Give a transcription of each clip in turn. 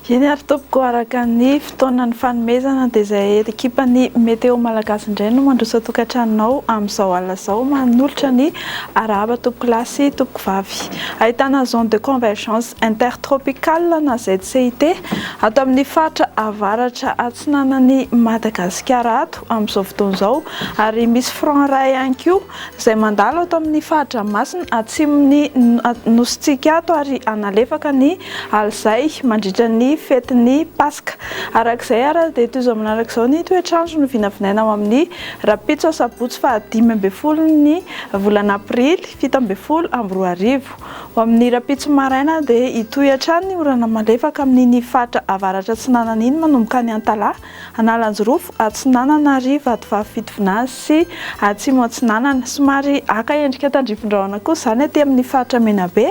Eny ary tompoko, araka ny fotoanan'ny fanomezana dia izay ekipan'ny Météo Malagasy indray no mandroso an-tokantranonao amin'izao alina izao. Manolotra ny arahaba tompokolahy sy tompokovavy. Ahitana zone de convergence. Intertropical na ZCIT, ato amin'ny faritra avaratra atsinanan'i Madagasikara ato amin'izao fotoana izao, ary misy front iray ihany koa izay mandalo ato amin'ny fahadRamasina atsimon'ny Nosintsika ato ary hanalefaka ny alizay mandritra ny fetin'ny Paska. Araka izay ary dia toy izao manaraka izao ny toetr'andro no vinavinaina ho amin'ny rahampitso asabotsy fahadimy ambin'ny folon'ny volana aprily fito ambin'ny folo amby roa arivo. Ho amin'ny rahampitso maraina dia hitohy hatrany ny orana malefaka amin'iny faritra avaratra atsinanana iny manomboka any Antalaha, Analanjirofo atsinanana ary Vatovavy Fitovinany sy Atsimo atsinanana. Somary haka endrika tandrifindrahona kosa izany aty amin'ny faritra Menabe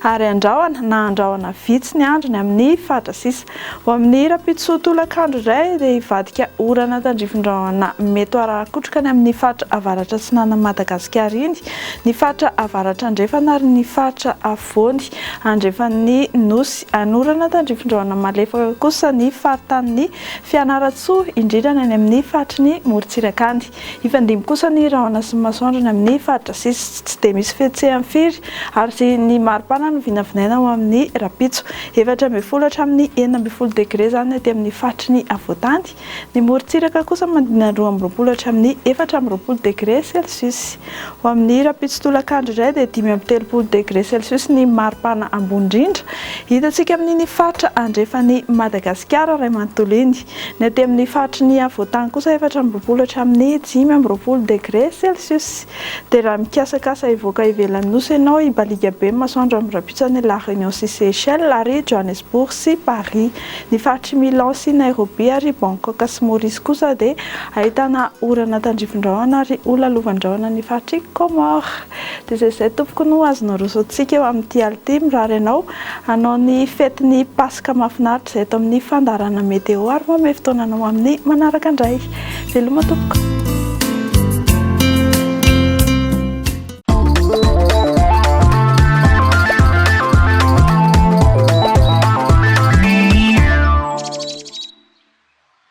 ary andrahona na andrahona vitsy ny andro ny amin'ny fatra sisa. Ho amin'ny rahampitso tolakandro iray dia hivadika orana tandrifin-drahona mety ho arahan-kotroka ny amin'ny faritra avaratra-atsinanan'i Madagasikara iny ny faritra avaratra-andrefana ary ny faritra afovoany andrefan'ny Nosy. Hanorana tandrifin-drahona malefaka kosa ny faritanin'i Fianarantsoa, indrindra ny any amin'ny faritry ny morontsiraka any. Hifandimby kosa ny rahona sy ny masoandro any amin'ny faritra sisy tsy dia misy fihetseham firy ary ny maripana no vinavinaina ho amin'ny rahampitso. Efatra ambin'ny folo hatramin'ny enina ambin'ny folo degre izany aty amin'ny faritry ny afovoantany. Ny morontsiraka kosa manodidina ny roa amby roapolo hatramin'ny efatra amby roapolo degre celsius. Ho amin'ny rahampitso tolakandro indray dia dimy amby telopolo degre celsius ny maripana ambony indrindra hitantsika amin'iny faritra andrefan'i Madagasikara iray manontolo iny. Ny aty amin'ny faritry ny havoantany kosa efatra amby roapolo hatramin'ny dimy amby roapolo degre celsius. Dia raha mikasakasa hivoaka ivelan'ny nosy ianao, i Baliga be ny masoandro amin'ny rampitson'i La Réunion sy Seychelles ary Johannesburg sy Paris. Ny faritr'i Milan sy Nairobi ary Bangkok sy Maurice kosa dia ahitana orana tandrifin-drahona ary holalovan-drahona ny faritr'i Comores. Dia izay izay tompoko no azonao rosoantsika eo amin'ity alina ity, mirary anao hanao ny fety ny Paska mahafinaritra izay eto amin'ny fandaharana Météo ary manome fotoana anao amin'ny manaraka indray. Veloma tompoko.